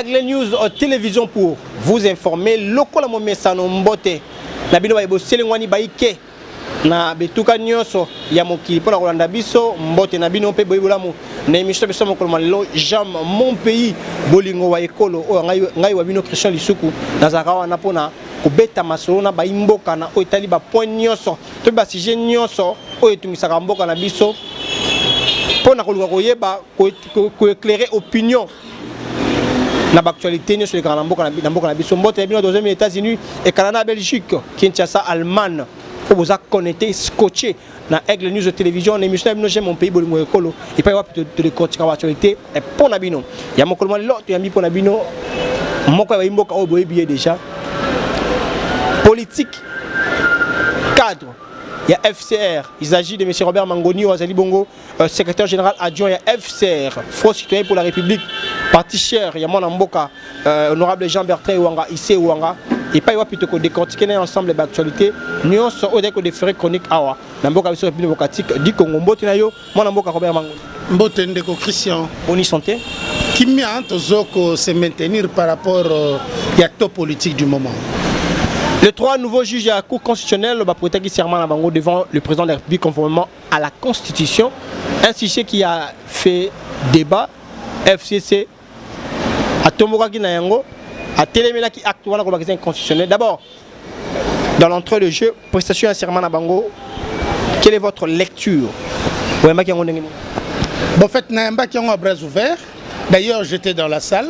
Aigle News euh, télévision pour vous informer lokola momesano mbote na bino baye boselengwani baike na bituka nyonso ya mokili mpo na kolanda biso mbote na bino mpe boyi bolamu na emission biso mokolo ma lelo jam mon pays bolingo wa ekolo oyo ngai wa bino christian lisuku nazalaka wana mpo na kobeta masolo na bayi mboka na oyo etali bapoint nyonso to basujet nyonso oyo etungisaka mboka na biso mpo na koluka koyeba koeclaire opinion na baactualité nyonso elekaka na mboka na mboka na biso mbote ya bino toza mini états-unis ekala na belgique kinshasa allemagne oyo boza connecté scotché na aigle news télévision na émission ya bino j'aime mon pays bolingo ekolo epai wapi todekortika baactualité mpo na bino ya mokolo mwa lelo toyambi mpo na bino moko ya bayimboka oyo boyebi ye déjà politique cadre ya FCR. Il s'agit de M. Robert Mangoni, Wazali Bongo, euh, secrétaire général adjoint ya fcr front citoyen pour la république parti cher ya mwana mboka euh, honorable jean bertrand ewanga ise ewanga epai wapi tokodecortike na ensemble baactualité nyonso oyo ezali kodefere chronique awa na mboka biso république démocratique du congo mbote na yo mwana mboka robert mango mbote ndeko christian boni santé kimia tozo ko se maintenir par rapport euh, ya to politique du moment Les trois nouveaux juges à la Cour constitutionnelle ont prêté serment à Bango devant le président de la République conformément à la constitution un sujet qui a fait débat FCC atombokaki na yango atelemelaki acte wana kolobakisa inconstitutionnel d'abord dans l'entrée de jeu prestation ya serment na bango quelle est votre lecture oyambaki yango ndenge nini bon fait nayambaki yango à bras ouvert d'ailleurs j'étais dans la salle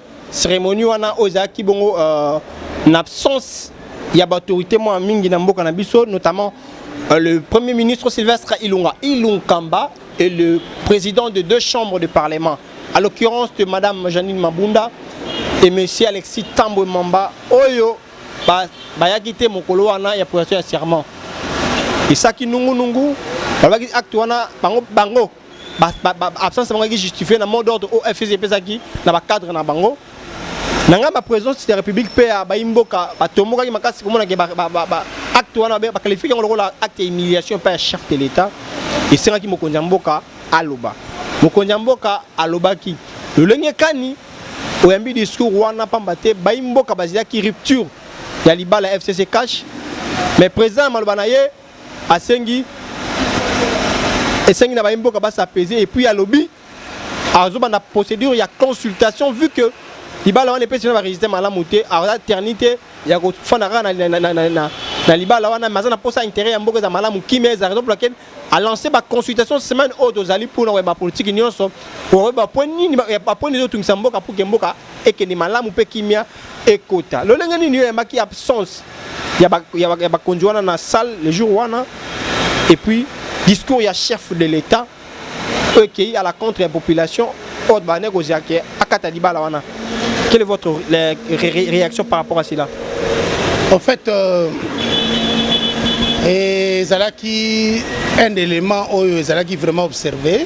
Cérémonie wana oyo ezalaki bongo euh, na absence ya baautorité mwa mingi na mboka na biso notamment euh, le premier ministre Sylvestre Ilunga Ilunkamba et le président de deux chambres de parlement à l'occurrence de madame Janine Mabunda et monsieur Alexis Tambwe Mamba oyo bayaki te mokolo wana ya prestation ya serment esaki nungunungu babaki acte wana bango bango absence bango eki justifie na mot d'ordre oyo fcc epesaki na bacadre na bango na ngai baprésence ya république mpe ya bayi mboka batombokaki makasi komonake acte wana baqualifike yango lokola acte ya humiliation mpe ya chef de l'état esengaki mokonzi ya mboka aloba mokonzi ya mboka alobaki lolenge kani oyambi discours wana mpamba te bayi mboka bazalaki rupture ya libala ya fcc cash mais président ya maloba na ye asengi esengi na baye mboka basapese epuis alobi azobanda procédure ya consultation vu que libala wana epesi na baregistre malamu te aza terni te ya kofanda kaka na libala wana mais aza na mposa intérêt ya mboka eza malamu kimia eza raison pour laquelle alance baconsultation semaine oyo tozali mpona koyeba politiki nyonso okoyeba point nini bapoint ezotungisa mboka puke mboka ekende malamu mpe kimia ekota lolenge nini yo oyambaki absence ya bakonzi wana na salle le jour wana et puis discours ya chef de l'état oyo ekei à la contre ya population oyo bane kozela ke akata libala wana quelle est votre réaction par rapport à cela en fait euh, ezalaki un élément oyo ezalaki vraiment observé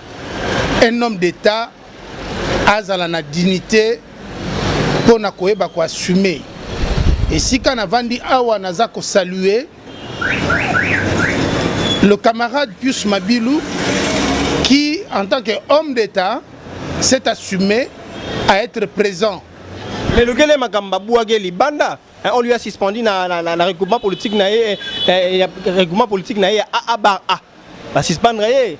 un homme d'État azala na dignité mpo na koyeba koassume esika navandi awa naza kosalue le camarade Pius Mabilu qui en tant que homme d'État s'est assumé à être présent. Mais lukele makambo babwaki libanda Hein, on lui a suspendu na, na, na, na regroupement politique na ye eh, eh, eh regroupement politique na ye a a bar a ba suspendre ye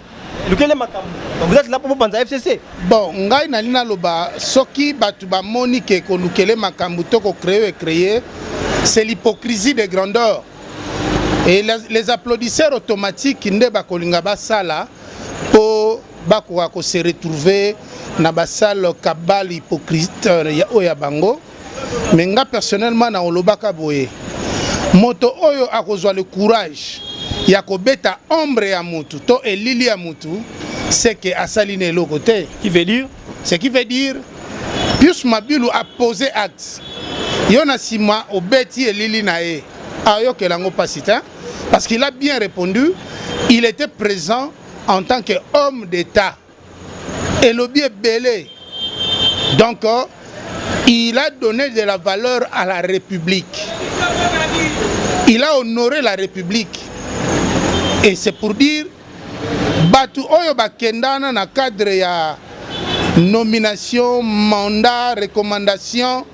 lukele makambo vous êtes là pour bopanza fcc bon ngai nali naloba soki bato bamoni ke kolukele makambo to kocree ecreye c'est l'hypocrisie de grandeur et les applaudisseurs automatiques nde bakolinga basala mpo bakoka kose retrouver na basale kabale hypocrite euh, oyo ya bango mais nga personnellement na olobaka boye moto oyo akozwa le courage ya kobeta ombre ya mutu to elili ya mutu seke asali na eloko te qui veut dire ce qui veut dire pius mabilu a posé acte yo na nsima obeti elili na ye ayokela yango mpasi te parce qu'il a bien répondu il était présent en tant que homme d'état elobi ebele donc euh, il a donné de la valeur à la république il a honoré la république et c'est pour dire bato oyo bakendana na cadre ya nomination mandat recommandation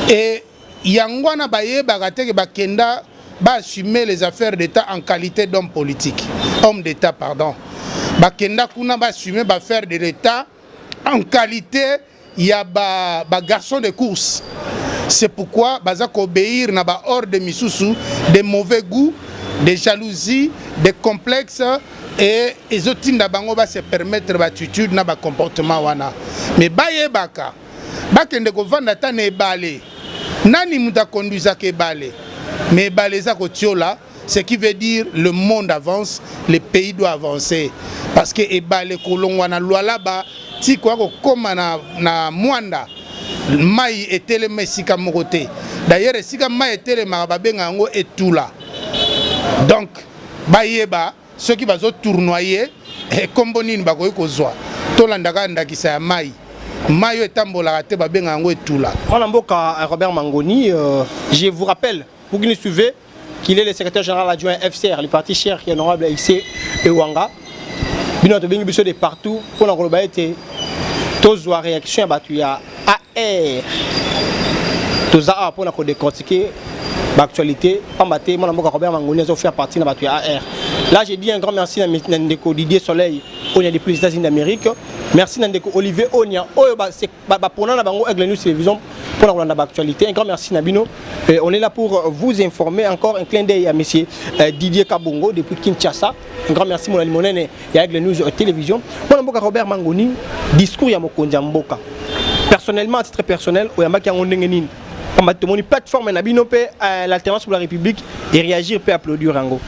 et Yango wana bayebaka te ke bakenda ba assumer les affaires d'État en qualité d'homme politique, homme d'État pardon. Bakenda kuna ba assumer ba affaires de l'État en qualité ya ba, ba garçons de course. C'est pourquoi baza obéir na ba ordres misusu de mauvais goût, de jalousie, de complexe et ezotinda bango ba se permettre ba attitudes na ba comportements wana. Mais bayebaka bakende kovanda ata na ebale nani moto akonduisaka ebale mais ebale eza kotiola ce qui veut dire le monde avance le pays doit avancer parce que ebale kolongwa na lualaba ti koya kokóma na, na mwanda mai etelema esika moko te d'ailleurs esika mai etelemaka babenga yango etula donc bayeba soki bazo tournoyer ekombo eh, nini bakoki kozwa tolanda kaka ndakisa ya mai mai oyo etambolaka te babenga yango etula mwana mboka eh, robert mangoni euh, je vous rappelle pour qu'il suivez qu'il est le secrétaire général adjoint fcr le parti cher qui est honorable ici ewanga bino tobengi biso de partout mpona koloba ete tozwa réaction ya bato ya AR toza awa mpona kodecortiquer baactualité pamba te mwana mboka kobela mangoni azofaire partie na bato ya ar là je dis un grand merci na ndeko didier soleil oyo ya depuis les états-unis d'amérique merci na ndeko olivier onia oyo bapona na bango aigle news télévision mpo na kolanda baactualité un grand merci na bino on est là pour vous informer encore un clin d'œil ya monsieur euh, didier kabongo depuis kinshasa Un grand merci mon alimonene ya Aigle News euh, Télévision. Mon mboka Robert Mangoni, discours ya mokonzi ya mboka. Personnellement, à titre personnel, oyambaki yango ndenge nini? Pamba tomoni plateforme na bino pe euh, l'alternance pour la République et réagir pe applaudir yango.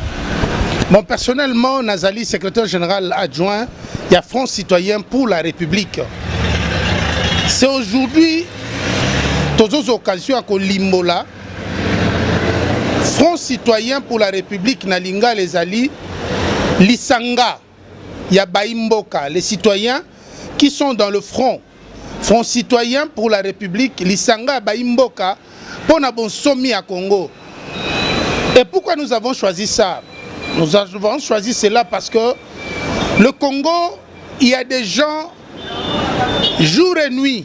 Bon, personnellement, nazali secrétaire général adjoint ya Front Citoyen pour la République. C'est aujourd'hui tozozo occasion ya kolimbola Front citoyen pour la République na lingala ezali lisanga ya bayi mboka les citoyens qui sont dans le front front citoyen pour la république lisanga ya bayi mboka mpo na bonsomi ya congo et pourquoi nous avons choisi ça nous avons choisi cela parce que le congo il y a des gens jour et nuit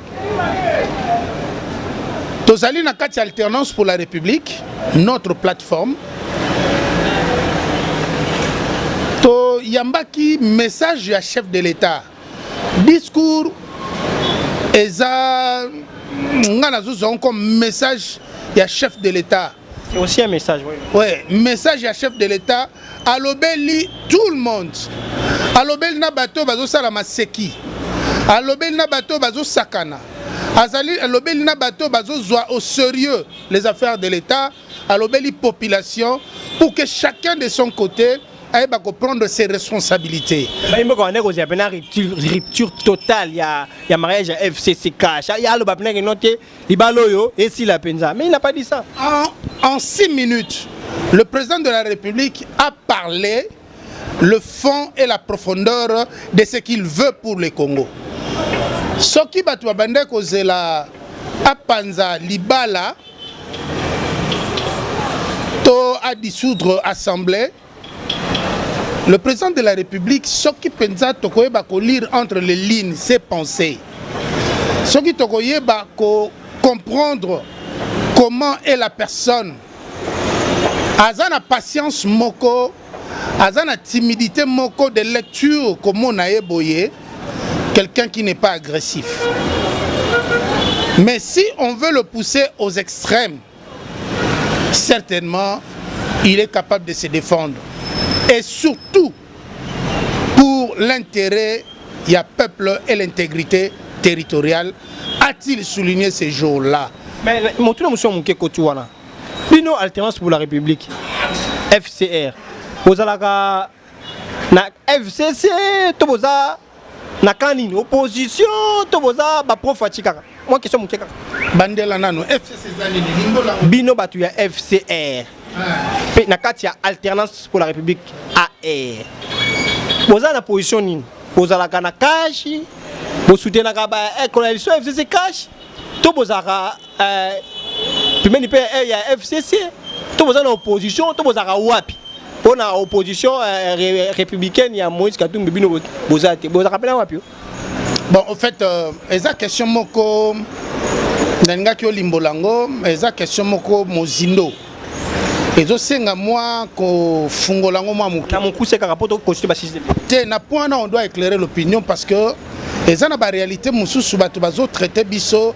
tozali na kati ya alternance pour la république notre plateforme toyambaki message ya chef de l'état discours eza nga nazozwa comme message ya chef de l'état C'est aussi un message. Oui. Ouais, message à chef de l'État. Alobeli tout le monde. Alobeli na bateau bazo sala maseki. Alobeli na bateau bazo sakana. Azali alobeli na bateau bazo zwa au sérieux les affaires de l'État. Alobeli population pour que chacun de son côté ayeba koprendre ses responsabilités bayimboka wana ekozela mpena rupture totale ya mariage ya fcccash ya aloba mpena kino te libala oyo esila mpenza mais il n'a pas dit ça en, en six minutes le président de la république a parlé le fond et la profondeur de ce qu'il veut pour le congo soki bato babandaki kozela apanza libala to adissoudre assemblée Le président de la République, soki penza tokoyeba ko lire entre les lignes ses pensées, soki tokoyeba ko comprendre comment est la personne, aza na patience moko, aza na timidité moko de lecture komona ye boye, quelqu'un qui n'est pas agressif. Mais si on veut le pousser aux extrêmes, certainement il est capable de se défendre et surtout pour l'intérêt du peuple et l'intégrité territoriale a-t-il souligné ces jours-là mais motuna mosusu ya moke koti wana bino alternance pour la république fcr bozalaka na fcc to boza na kan nini opposition to boza baprofaci kaka mwa question moke kaka bandela nano fcc eza nini lindola bino bato ya fcr mpe na kati ya alternance pour la république ar boza na position nini bozalaka na kashi bosutenaka ba coalition fcc kashi to bozalaka eh, pembeni mpe eh, ya fcc to boza na opposition to bozalaka wapi mpo na opposition eh, républicaine ya moïse katumbi bino boza te bozalaka mpena wapi yo bon au fait euh, eza question moko nalingaki olimbola yango eza question moko mozindo ezosenga mwa kofungola yango mwa moke na mokuse kaka mpo tokosite basiste te na point wana on doit éclairer l'opinion parce que eza na baréalité mosusu bato bazotraite biso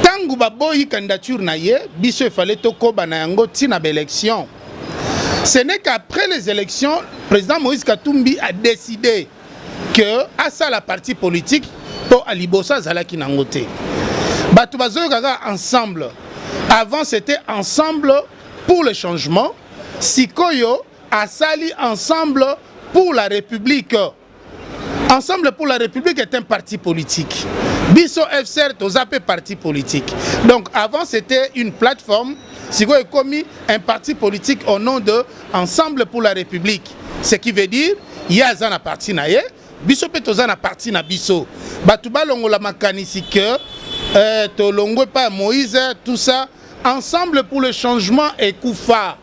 ntango baboyi candidature na ye biso efale tokoba na yango ntina baélection ce n'est qu'après les élections président moïse katumbi a décidé que asala parti politique mpo aliboso azalaki nango te bato bazoyoka kaka ensemble avant c'était ensemble pour le changement sikoyo asali ensemble pour la république Ensemble pour la République est un parti politique. Biso FCR toza pe parti politique. Donc avant c'était une plateforme, sikoyo ekomi un parti politique au nom de Ensemble pour la République. Ce qui veut dire ye aza na parti na ye, biso pe toza na parti na biso. Bato balongola makanisi que euh, tolongwe pa Moïse tout ça. Ensemble pour le changement ekufa.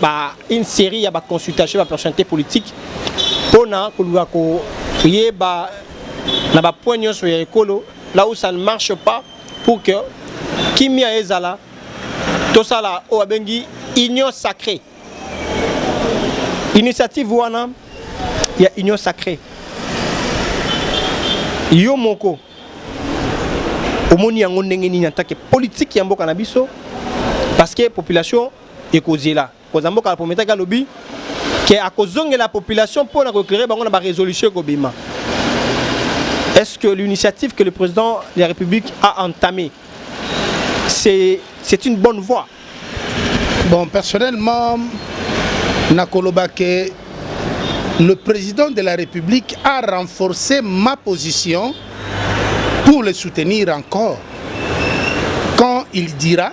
ba une série ya ba consultation ba personnalité politique pona koluka ko yeba na ba point nyonso ya ekolo là où ça ne marche pas pour que kimia ezala tosala oyo abengi union sacrée initiative wana ya union sacrée yo moko omoni yango ndenge nini en tant que politique ya mboka na biso parce que population ekozela koza mboka apometaki alobi ke akozongela population mpo na koeclaire bango na baresolution ekobima est-ce que l'initiative que le président de la république a entamée c'est c'est une bonne voie bon personnellement nakoloba ke le président de la république a renforcé ma position pour le soutenir encore quand il dira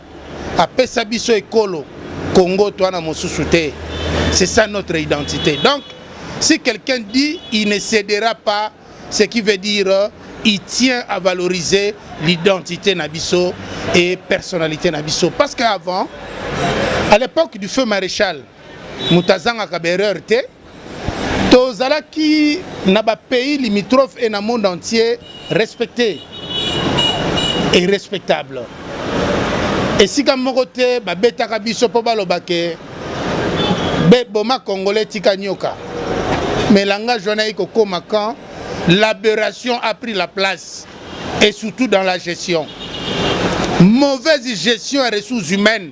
apesa biso ekolo Congo toi na mosusu te c'est ça notre identité donc si quelqu'un dit il ne cédera pas ce qui veut dire euh, il tient à valoriser l'identité na biso et personnalité na biso parce qu'avant à l'époque du feu maréchal moto azangaka baerreur te tozalaki na ba pays limitrophes et na monde entier respecté et respectable esika moko te babetaka biso mpo baloba ke beboma congolais tika nyoka mais langage wana ekokoma quand l'aberration a pris la place et surtout dans la gestion mauvaise gestion ya ressources humaines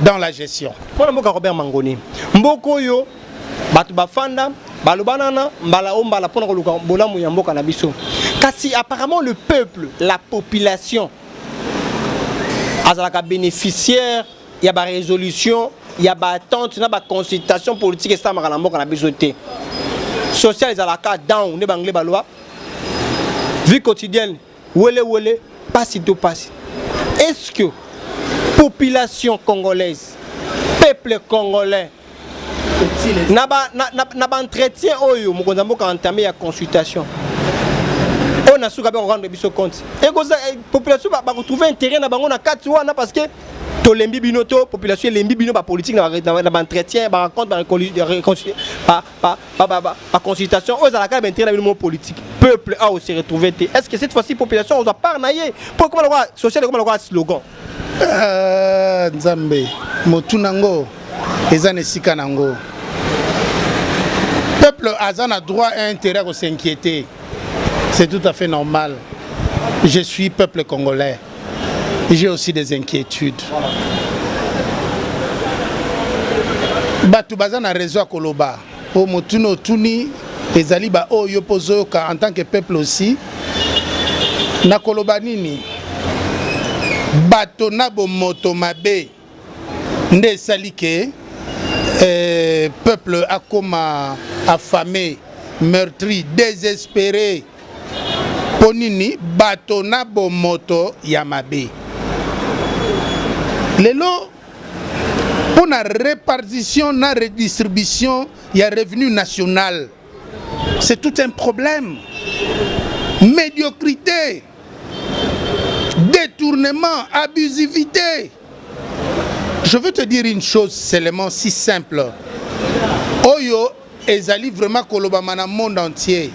dans la gestion. Mpo na mboka Robert Mangoni, mboka oyo bato bafanda balobanana mbala o mbala mpo na koluka bolamu ya mboka na biso kasi apparemment le peuple la population azalaka bénéficiaire ya barésolution ya baattente na baconsultation politique esalamaka na mboka na biso te social ezalaka down nde banglais baloba vie quotidienne Wele wele, pasi to pasi. Est-ce que population congolaise, peuple congolais, na ba na, na, na ba entretien oyo mokonzi ya mboka entame ya consultation oyo na suka mpe kokando biso compte ekoza eh, population bakotrouve intérêt na bango na kati wana parce que tolembi bino to population elembi bino bapolitike na baentretien baraconte ba, ba, ba, ba, ba consultation oyo ezalaka ba intérêt na bino mo politique peuple a se retrouver te est-ce que cette fois-ci population oza part na ye po ekoma lokola social ekoma lokola slogan euh, nzambe motu nango eza na esika nango peuple aza na droit et intérêt à s'inquiéter c'est tout à fait normal je suis peuple congolais j'ai aussi des inquiétudes bato baza na raison ya koloba oyo motuni otuni ezali baoyo yo mpo ozoyoka en tant que peuple aussi nakoloba nini bato na bomoto mabe nde esali ke eh, peuple akoma affamé meurtri désespéré mpo nini bato na bomoto ya mabe lelo mpo na répartition na redistribution ya revenu national C'est tout un problème. Médiocrité, détournement, abusivité. Je veux te dire une chose seulement si simple. Oyo ezali vraiment kolobama na monde entier.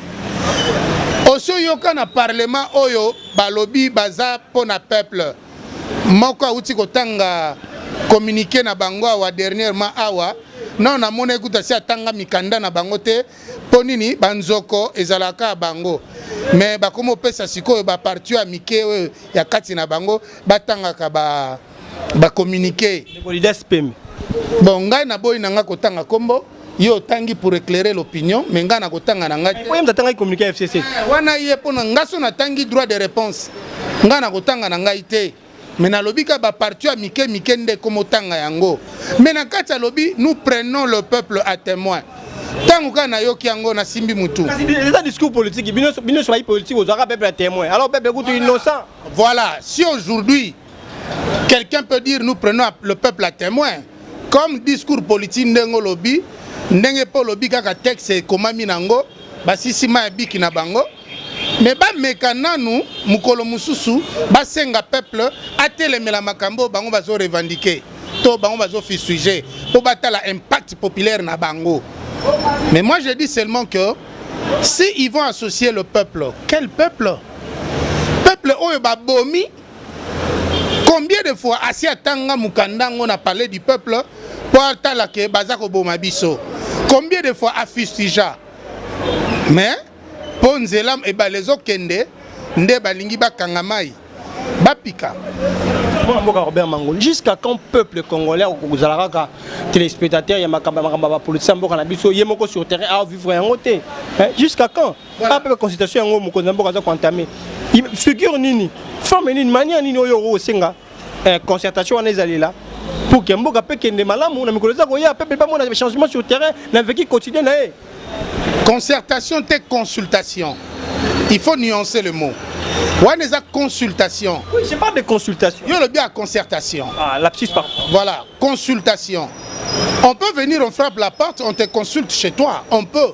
Osi oyoka na parlement oyo balobi baza mpo na peuple. moko awuti kotanga communiqué na bango awa dernièrement awa nano namona ekuta si atanga mikanda na bango te mpo nini banzoko ezalaka ya bango me bakomi kopesa sikoyo baparti ya mike oyo ya kati na bango batangaka bacommunike ba bon ngai naboyi na ngai kotanga nkombo yo otangi pour éclairer l'opinion mais ngai nakotanga na ngai te atangaki communiqué ya fcc eh, wana ye mpo na ngai so natangi droit de réponse ngai nakotanga na ngai te mais nalobi ka baparti ya mike mike nde komotanga yango mais na kati alobi nous prenons le peuple à témoin ntango kaka nayoki yango nasimbi motu eza discours politique bino nyonso bayi politique ozwaka peuple ya témoin alors peuple kutu innocent voilà si aujourd'hui Quelqu'un peut dire nous prenons le peuple à témoin. Comme discours politique ndenge olobi, ndenge mpe olobi kaka texte ekomami nango, basisi ma ya biki na bango. Mais bameka nanu mokolo mosusu basenga peuple atelemela makambo bango bazo revendiquer to bango bazo fisuge mpo batala impact populaire na bango. Mais moi je dis seulement que si ils vont associer le peuple, quel peuple? Peuple oyo babomi combien de fois asi atanga mokanda yango na palais du peuple mpo atala ke baza koboma biso combien de fois afustija mais mpo nzela ebale ezokende nde balingi bakanga mai bapika mwana mboka robert mangoli jusqu'à quand peuple congolais akozala kaka téléspectateur ya makambo ya makambo ya bapolitise ya mboka na biso ye moko sur terrain aovivre yango te jusqu'à quand Voilà. Pas consultation yango mokonzi na mboka aza ko entamer. Figure nini? Forme nini? Manière nini oyo osenga? Eh, concertation wana ezalela pour que mboka pe kende malamu na mikolo eza koya peuple pas mona changement sur terrain na vécu quotidien na ye. Concertation te consultation. Il faut nuancer le mot. wana eza consultation oui, je parle de consultation yo olobi ya concertation ah, lapsus par voilà consultation on peut venir on frappe la porte on te consulte chez toi on peut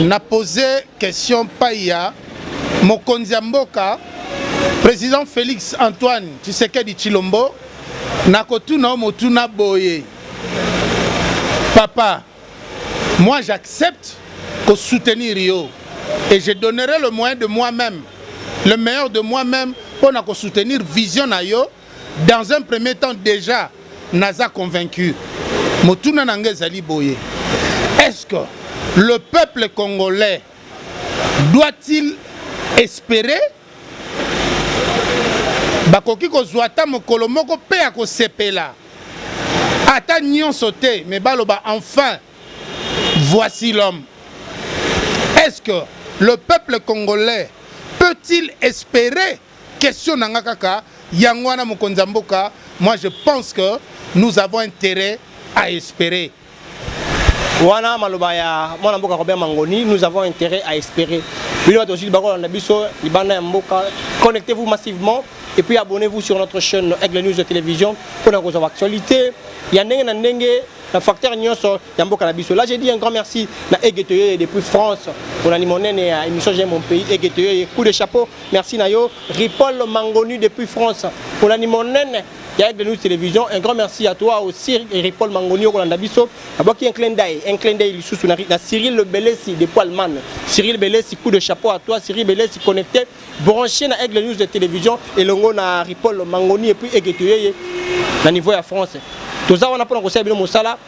na pose question pai ya mokonzi ya mboka président Félix Antoine Tshisekedi Tshilombo na kotuna o motuna boye papa moi j'accepte ko soutenir yo et je donnerai le moyen de moi-même le meilleur de moi-même mpo na ko soutenir vision na yo dans un premier temps déjà naza convaincu motuna na nga ezali boye est-ce que le peuple congolais doit-il espérer bakoki kozwa ata mokolo moko mpe ya kosepela ata nyonso te me baloba enfin voici l'homme est-ce que le peuple congolais peut-il espérer Question na nga kaka yango wana mokonzi ya mboka, moi je pense que nous avons intérêt à espérer wana maloba ya mwana mboka Robert Mangoni, nous avons intérêt à espérer. Bino bato sud bakolanda biso libanda ya mboka, connectez-vous massivement et puis abonnez-vous sur notre chaîne Aigle News de télévision pour na kozwa actualité ya ndenge na ndenge na facteur nyonso ya mboka na biso. Là j'ai dit un grand merci na Aigle Toyoye depuis France pour na limonene ya émission J'aime mon pays Aigle Toyoye coup de chapeau Merci na yo Ripoll Mangoni depuis France kolandi monene ya Aigle News Télévision un grand merci à toi aussi Ripoll Mangoni okolanda biso abwaki un clin d'œil un clin d'œil lisusu na, na Cyril Le Belesi depuis Allemagne Cyril Belesi coup de chapeau à toi Cyril Belesi connecté branché na Aigle News de Télévision elongo na Ripoll Mangoni et puis Egetoyeye na niveau ya France toza wana mpona kosala bino mosala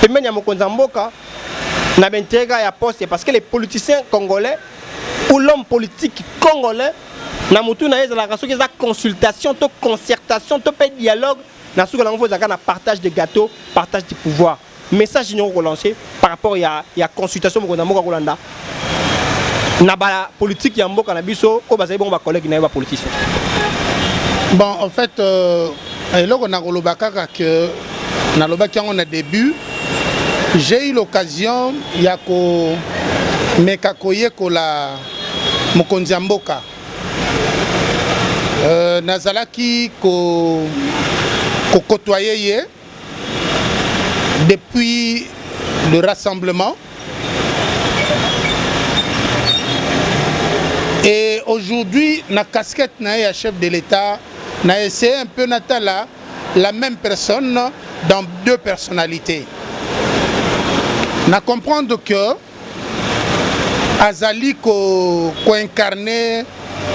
pembeni ya mokonzi ya mboka na benteka ya poste parce que les politiciens congolais ou l'homme politique congolais na motu na ye ezalaka soki eza consultation to concertation to mpe dialogue na suka nango fo ezalaka na partage de gâteau partage du pouvoir message nini okolancer par rapport ya, ya consultation mokonzi ya mboka kolanda na ba politique ya mboka na biso oyo bazali bongo ba collègues na yo ba politiciens bon en fait euh, eloko nakoloba kaka que nalobaki yango na début j'ai eu l'occasion ya komeka koyekola mokonzi ya mboka euh, nazalaki ko kokotoye ye depuis le rassemblement et aujourd'hui na casquette na ye ya chef de l'état na essaye un peu natala la même personne dans deux personnalités na comprendre que azali ko, ko incarner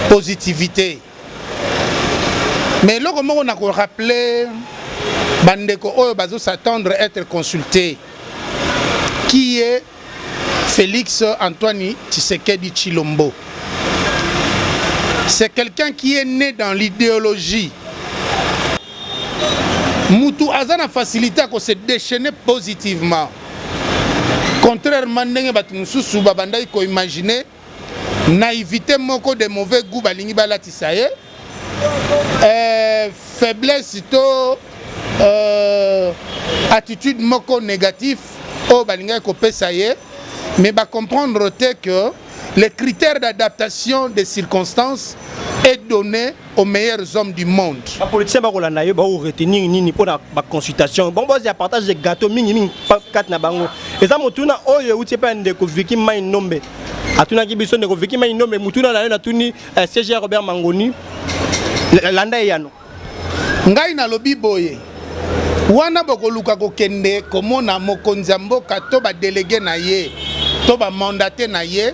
positivité mais eloko moko na ko rappeler bandeko oyo bazo s'attendre être consulté qui est Félix Antoine Tshisekedi Chilombo c'est quelqu'un qui est né dans l'idéologie mutu aza na facilité ya ko se déchaîner positivement contrairement ndenge bato mosusu babandaki koimagine naïvité moko de mauvais goût balingi balatisa ye euh, faiblesse to euh, attitude moko négatif oyo balingaki kopesa ye mais bacomprendre te que les critères d'adaptation des circonstances est donné aux meilleurs hommes du monde. Ba politiciens ba kolanda yo ba retenir nini pour la ba consultation. Bon boss ya partage de gâteau mingi mingi kat na bango. Eza motuna oyo euti pa ndeko Vicky Mai Nombe. Atunaki biso ndeko Vicky Mai Nombe motuna na yo natuni eh, CG Robert Mangoni. Landa eyano. Ngai nalobi boye. Wana bokoluka kokende komona mokonzi ya mboka to ba délégué na ye to ba mandaté na ye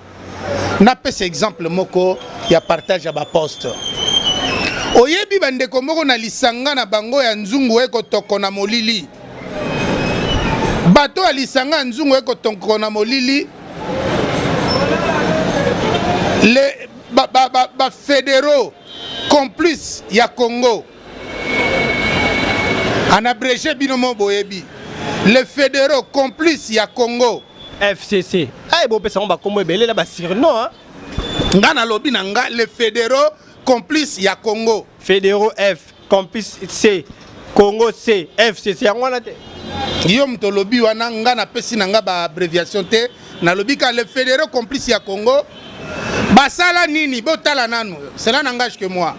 napesa exemple moko ya partage ya baposte oyebi bandeko moko na lisanga na bango ya nzungu ekotoko na molili bato ya lisanga ya nzungu ekotoko na molili le bafedero ba, ba, ba complice ya congo anabrege bino mo boyebi le federo complice ya congo fcc aye bopesa yango bakombo ebele na basurno nga nalobi na nga le federo complice ya congo federo f complice c congo c fcc yango wana te yo moto olobi wana nga napesi na nga baabréviation te nalobi ka le federo complice ya congo basala nini botala nanu cela nangage que moi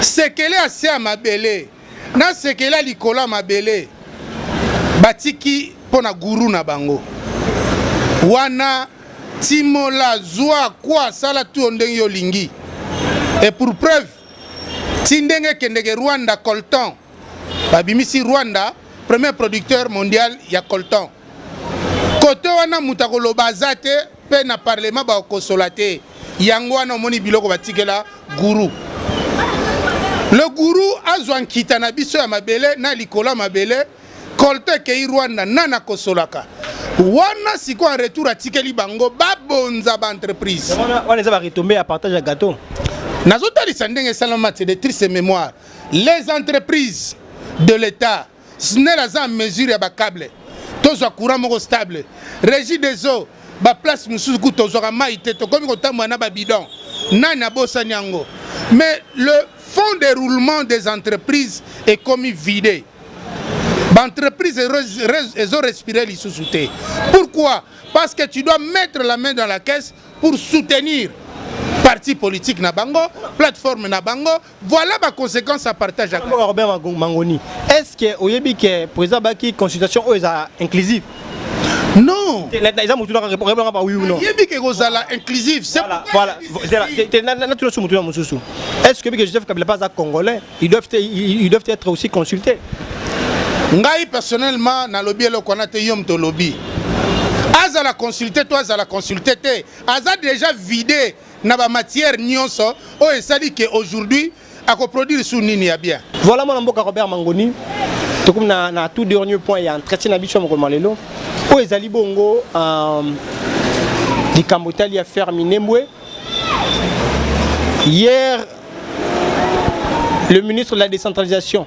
sekele ase ya mabele na sekela likolo ya mabele batiki mpo na guru na bango wana timola zwa kwa sala tuyo ndenge yo olingi et pour preuve ti ndenge ekendeke rwanda colton babimisi rwanda premier producteur mondial ya colton kote wana moto akoloba aza te mpe na parlema bakosola te yango wana omoni biloko batikela guru le guru azwa nkita na biso ya mabele na likolo ya mabele kolte ekei rwanda nani akosolaka wana sikoyo en retour atikeli bango babonza baentreprise wana eza baretombe ya partage ya gateau nazotalisa ndenge esalama te de triste mémoire les entreprises de l'état snel aza en mesure ya bacable tozwa courant moko stable régie des eaux baplace mosusu kutu tozwaka mai te tokomi kotambola na babidon nani abosani yango mais le fond de roulement des entreprises ekomi vide baentreprise ezo respire lisusu te pourquoi parce que tu dois mettre la main dans la caisse pour soutenir parti politique na bango plateforme na bango Voilà ba conséquences à partage avec Robert Mangoni. Est-ce que oyebi que président baki consultation oyo eza inclusive? Non. Eza mutu naka rebanga ba oui ou non. Yebi que kozala inclusive. C'est voilà. Voilà. Na tu mutu na mususu. Est-ce que que Joseph Kabila pas congolais? Ils doivent ils doivent être aussi consultés. Ngai personnellement na lobby eloko wana te yom to lobby. azala consulte to azala consulte te aza déjà vide na ba matière nyonso oyo esali ke aujourd'hui akoproduire su nini ya bien voilà mwana mboka robert mangoni tokomi na, na tout dernier point ya entretien na biso ya mokolo malelo oyo ezali bongo euh, likambo etali ya ferre minembwe hier le ministre de la décentralisation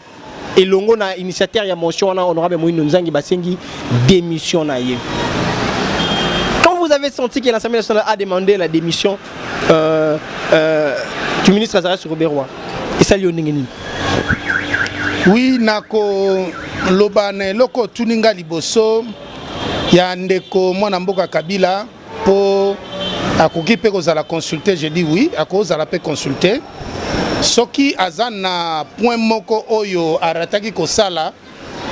elongo na initiateur ya motion wana honorable Moïno Nzangi basengi démission na ye. Quand vous avez senti que l'Assemblée nationale a demandé la démission euh, euh, du ministre Azarias Roberois, esali yo ndenge nini? Oui, nako loba na eloko tuninga liboso ya ndeko mwana mboka Kabila Po akoki pe kozala consulter, je dis oui, akozala pe consulter. Soki aza na point moko oyo arataki kosala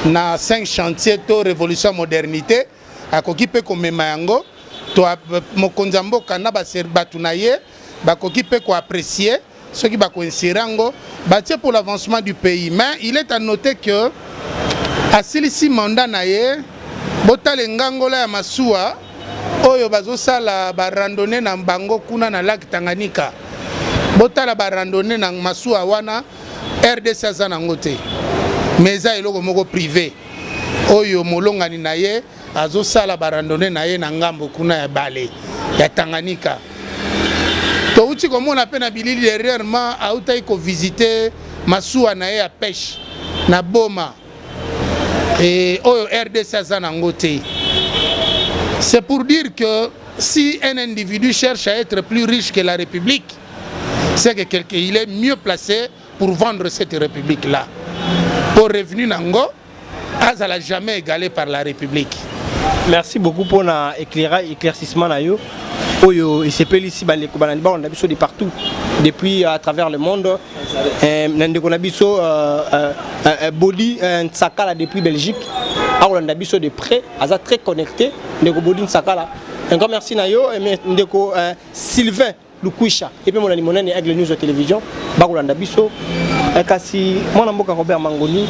na 5 chantier to révolution modernité, akoki pe komema yango to mokonzi ya mboka na bato na ye bakoki pe koaprecie soki bako insérer yango batie pour l'avancement du pays mais il est à noter que asilisi mandat na ye botala engangola ya masuwa oyo bazosala barandonne na bango kuna na lake Tanganyika botala barandonne na masuwa wana rdc aza nango te mais eza eloko moko privé oyo molongani na ye azosala barandone na ye na ngambo kuna ya bale ya Tanganyika. Touti komona mpe na bilili dernièrement autaki kovisite masuwa na ye ya peshe na Boma e, oyo RDC aza nango te. C'est pour dire que si un individu cherche à être plus riche que la République, c'est que quelqu'un il est mieux placé pour vendre cette République-là. Pour revenu nango, azala jamais égalé par la république merci beaucoup pour na éclairage éclaircissement na yo oyo esepelisi bandeko balandi balanda biso de partout depuis à travers le monde eh, na ndeko na biso euh, euh, euh, bodi nsakala depuis belgique akolanda biso de près aza très connecté ndeko bodi nsakala encore merci na yo ndeko sylvain Lukwisha epe monani monani ya Aigle News ya television bakolanda biso eh, kasi mwana mboka Robert Mangoni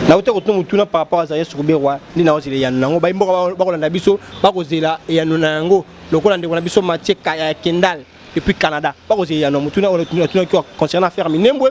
nauta kotuna motuna par rapport aza yesu koberwa nde naozela eyano na yango bayimboka bakolanda biso bakozela eyano na yango lokola ndeko na biso matie ya kendal depuis canada bakozela eyano ya motuna oyo atunaki concernant affaire minembwe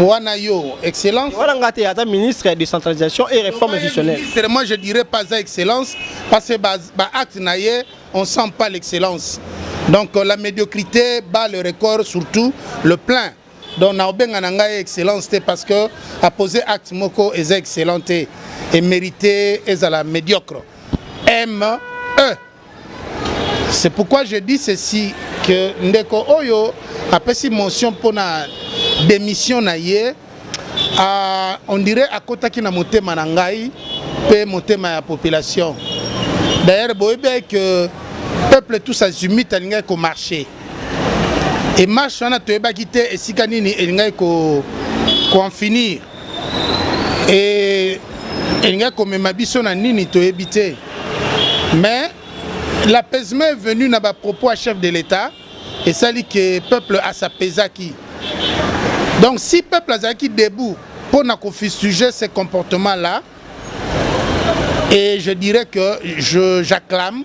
wana yo excellence wana nga te ata ministre ya décentralisation et réforme institutionnelle ministre moi je dirais pas ça excellence parce que ba, ba acte na ye on sent pas l'excellence donc euh, la médiocrité bat le record surtout le plein donc na obenga na ngai excellence te parce que a poser acte moko eza excellent te et mérité ezala médiocre m e C'est pourquoi je dis ceci que ndeko oyo apesi motion pona démission na ye uh, on dirait akotaki na motema na ngai pe motema ya population. D'ailleurs boyebi que peuple tous azimite alingaki ko marcher. Et marche wana toyebaki te esika nini elingaki ko ko en finir. e, elingaki komema biso na nini toyebi te mais l'apaisement est venu na bapropos ya chef de l'état esali ke peuple asapesaki donc si peuple azalaki debout mpo na kofistuge ce comportement là et je dirais que j'acclame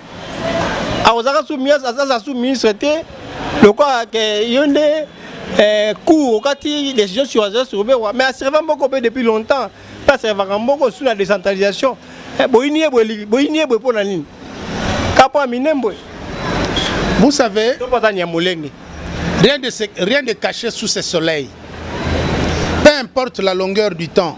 akozaka su ministre azaza su ministre te lokola ke yo nde eh, cour okati décision sur azala sur bewa mais asireva mboko mpe depuis longtemps mpe asirevaka mboko su na décentralisation eh, boyini ye boye boyini ye boye mpo na nini kapo ya minembwe vous savez to mpazani ya molenge rien de, rien de caché sous ce soleil peu importe la longueur du temps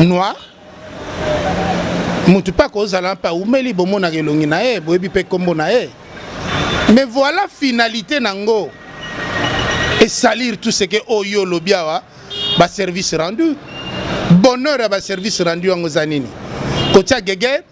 noir motu mpe akozala mpe aumeli bomonaka elongi na ye boyebi mpe nkombo na ye mais voilà finalité na yango esalir tout ce que oyo oh, olobi awa baservice rendu bonheur ya baservice rendu yango eza nini kotia geger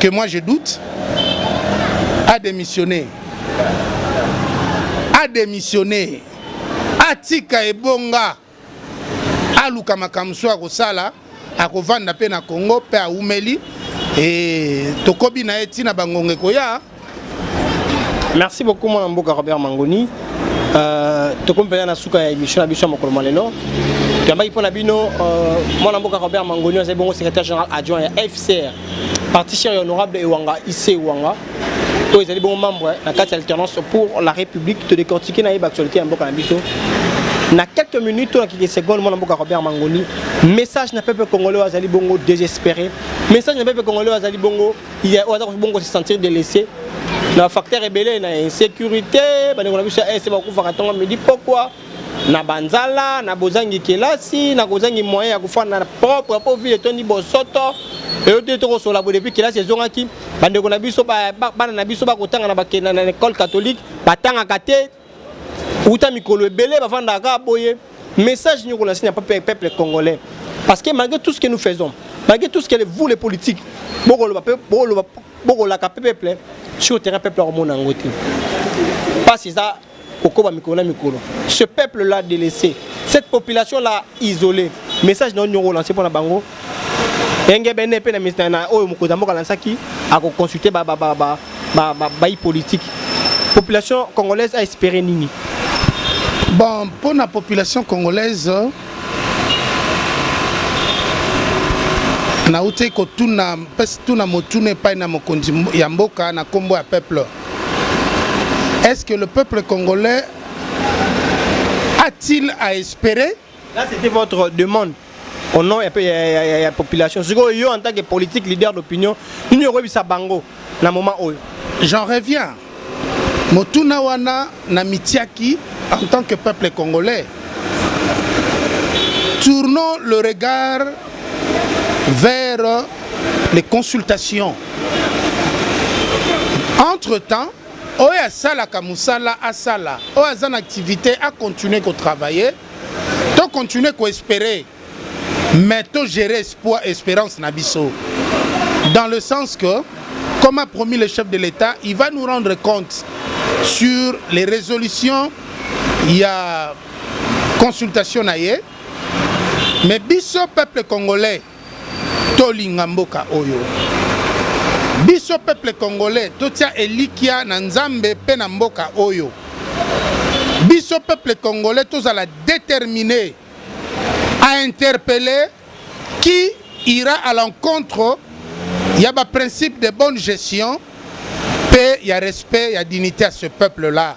que moi je doute, a démissionné. A démissionné. Atika ebonga. Aluka makambo so akosala, akovanda mpe na Congo mpe aumeli. E tokobi na ye ntina bangonga ekoya. merci beaucoup mwana mboka robert mangoni euh, tokomi mpenza na suka ya émission na biso ya mokolo mwa lelo toyambaki mpo na bino euh, mwana mboka robert mangoni azali bongo secrétaire général adjoint ya fcr parti cher ya honorable ewanga ic ewanga oyo ezali bongo membre na kati ya alternance pour la république todecortike na ye baactualité ya mboka na biso na quelques minutes to na quelques secondes mwana mboka robert mangoni message na peuple congolais oyo azali bongo désespéré message na peuple congolais oyo azali bongo ye oyo aza kofi bongo se sentir delaisse na facteur ebele na insécurité bandeko na biso ya est bakufaka ntongo midi pokwa na banzala na bozangi kelasi na kozangi moyen ya kofanda na propre mpo ville etondi bosoto eyo te tokosola boye depuis kelasi ezongaki bandeko na biso bana na biso bakotanga na bakenda na école catholique batangaka te uta mikolo ebele bafandaka kaka boye message nyoko na sinya peuple congolais parce que malgré tout ce que nous faisons malgré tout ce que vous les politiques bokoloba pe bokoloba bokolaka pe peuple sur terrain peuple akomona yango te mpasi eza kokoba mikolo na mikolo ce peuple là délaissé cette population là isolé message na yo nyongo olanse mpo na bango engebene mpe na, na oyo mokonzi ya mboka alansaki akoconsulte bayi ba, ba, ba, ba, ba, ba, politike population congolaise a espere nini bon mpo na population congolaise nauti kotuna mpesi tuna motuna epai na mokonzi ya mboka na nkombo ya peuple est ce que le peuple congolais a-t-il à espérer Là, c'était votre demande au nom ya, ya, ya, ya, ya population. Sikoyo yo en tant que politique leader d'opinion, nini okoyebisa bango na moment oyo? J'en reviens. Motuna wana na mitiaki en tant que peuple congolais. Tournons le regard vers les consultations. Entre-temps, oyo asalaka mosala asala oyo aza na activité acontinue kotravaille to continue koespere mais to gérer espoir espérance na biso dans le sens que comme a promis le chef de l'état il va nous rendre compte sur les résolutions ya consultation na ye mais biso peuple congolais Tolinga mboka oyo. Biso peuple congolais totia elikia na Nzambe mpe na mboka oyo. Biso peuple congolais tozala determine à interpeller qui ira à l'encontre ya ba principe de bonne gestion mpe ya respect ya dignité ya ce peuple là.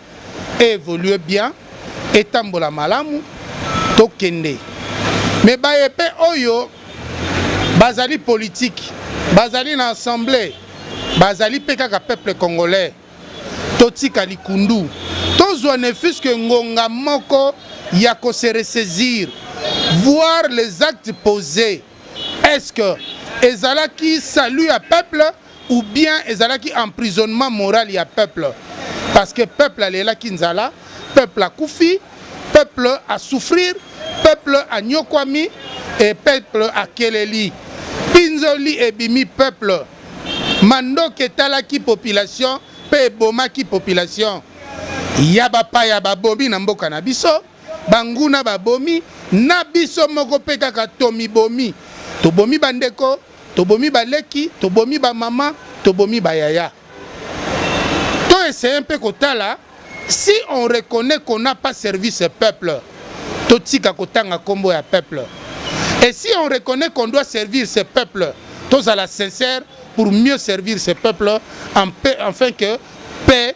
e evolue bien etambola malamu tokende me baye mpe oyo bazali politiki bazali na assemblée bazali mpe kaka peuple congolais totika likundu tozwa ne fuske ngonga moko ya koseresaisir voir les actes posés Est-ce que ezalaki salut ya peuple ou bien ezalaki emprisonnement moral ya peuple parce que peuple alelaki nzala peuple akufi peuple asouffrir peuple anyokwami e peuple akeleli pinzoli ebimi peuple mandoki etalaki population mpe ebomaki population ya bapaya babomi na mboka na biso Banguna babomi, na biso moko mpe kaka tomibomi. Tobomi bandeko, tobomi baleki, tobomi bamama, tobomi bayaya. To essaye mpe kotala si on reconnaît qu'on n'a pas servi ce peuple, totika kotanga nkombo ya peuple. Et si on reconnaît qu'on doit servir ce peuple, tozala sincère pour mieux servir ce peuple, en paix, afin que paix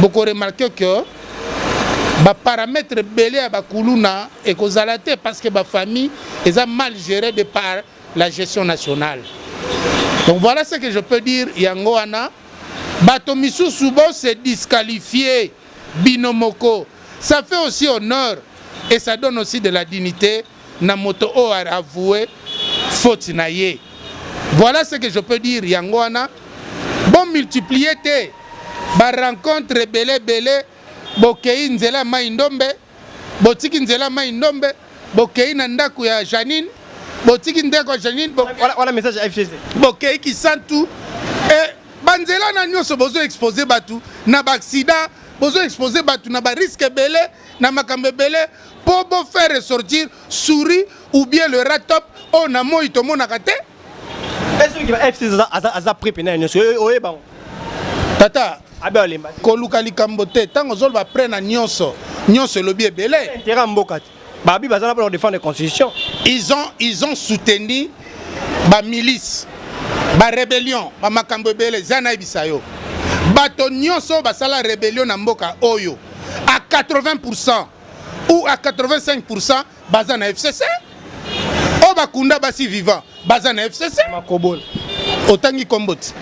boko remarquer que ba parametre ebele ya bakuluna ekozala te parce que ba famille eza mal gérée de par la gestion nationale donc voilà ce que je peux dire yango wana bato misusu bo se disqualifier bino moko ça fait aussi honneur et ça donne aussi de la dignité na moto oyo a avouer faute na ye voilà ce que je peux dire yango wana bo multiplier te ba rencontre ebele ebele bokei nzela ya mai ndombe botiki nzela ya mai ndombe bokei na ndako ya janine botiki ndako ya janine bo, wana, wana message ya fcc bokei kisantu e banzela na nyonso bozo expose bato na baaksida bozo expose bato na bariske ebele na makambo ebele mpo bo faire ressortir souris ou bien le ratop oyo na moi tomonaka te aza prix pena nyonso oye bango tata koluka likambo te ntango ozoloba près na nyonso nyonso elobi ebele intérêt ya mboka te babi baza na mpona kodefendre constitution ils ont, ils ont soutenu bamilice barébellion bamakambo ebele eza nayebisa yo bato nyonso basala rébellion na mboka oyo à 80% ou à 85% baza na FCC oyo oh, bakunda basi vivant baza na FCC makobola otangi kombo ti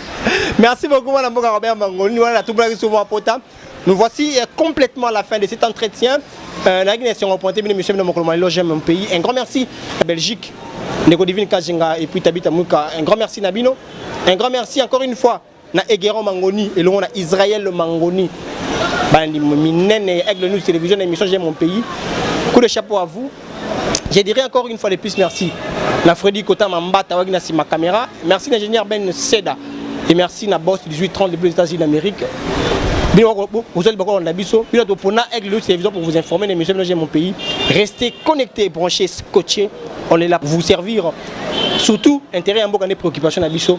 merci beaucoup mwana mboka robert mangoni wana natubulaki soki mwa pota nous voici euh, complètement à la fin de cet entretien euh, nayaki na esengo pointe bino monsieur bino mokolo malelo j'aime mon pays un grand merci à belgique ndeko divine kajenga et puis tabita muka un grand merci na bino un grand merci encore une fois na Egeron Mangoni elongo na Israël Mangoni bandi minene ya Aigle News Télévision na émission J'aime mon pays coup de chapeau à vous je dirais encore une fois de plus merci na Freddy Kota Mambata waki na sima caméra merci l'ingénieur Ben Seda et merci na boss 1830 depuis les États-Unis d'Amérique bozali bakolanda biso bino topona aigle news télévision pour vous informer na émission bino j'aime mon pays restez connectés branchés scotchés on est là pour vous servir surtout intérêt ya mboka nde préoccupation na biso